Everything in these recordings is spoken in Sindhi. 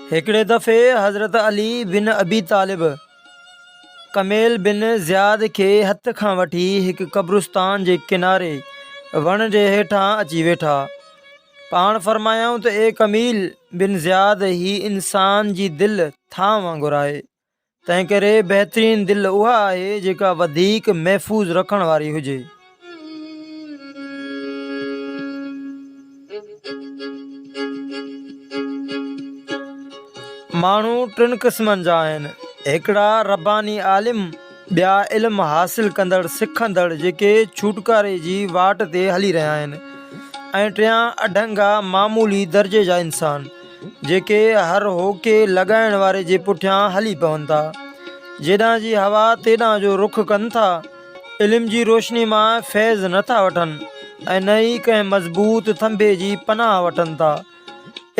هڪڙي دفعي حضرت علي بن ابي طالب ڪميل بن زياد کي هٿ کان وٺي هڪ قبرستان جي ڪناري وڻ جي هيٺان اچي ويٺا. پاڻ فرمايائون ته اي ڪميل بن زياد هي انسان جي دل ٿانء وانگر آهي. تنهنڪري بهترين دل اها آهي جيڪا وڌيڪ محفوظ رکڻ واري هجي. ماڻهو ٽن قسمن جا آهن، هڪڙا رباني عالم، ٻيا علم حاصل ڪندڙ سکندڙ جيڪي ڇوٽڪاري جي واٽ تي هلي رهيا آهن ۽ ٽيان اڍنگا معمولي درجي جا انسان. جيڪي هر هوڪي لڳائڻ واري جي پٺيان هلي پون ٿا. جيڏانهن جي هوا تيڏانهن جو رخ ڪن ٿا. علم جي روشني مان فيض نه ٿا وٺن ۽ نه ئي ڪنهن مضبوط ٿنڀي جي پناهه وٺن ٿا.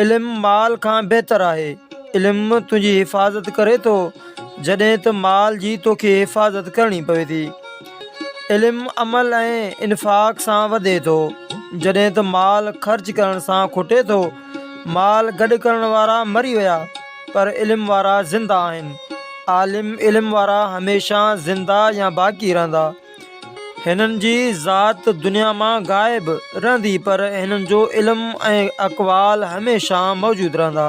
علم مال کان بهتر آهي. علم تنهنجي حفاظت ڪري ٿو جڏهن ته مال جي توکي حفاظت ڪرڻي پوي ٿي. علم عمل ۽ انفاق سان وڌي ٿو جڏهن ته مال خرچ ڪرڻ سان کٽي ٿو. مال گڏ ڪرڻ وارا مري ويا پر علم وارا زنده آهن. عالم علم وارا هميشه زنده يا باقي رهندا. هنن جي ذات دنيا مان غائب رهندي پر هنن جو علم ۽ اقوال هميشه موجود رهندا.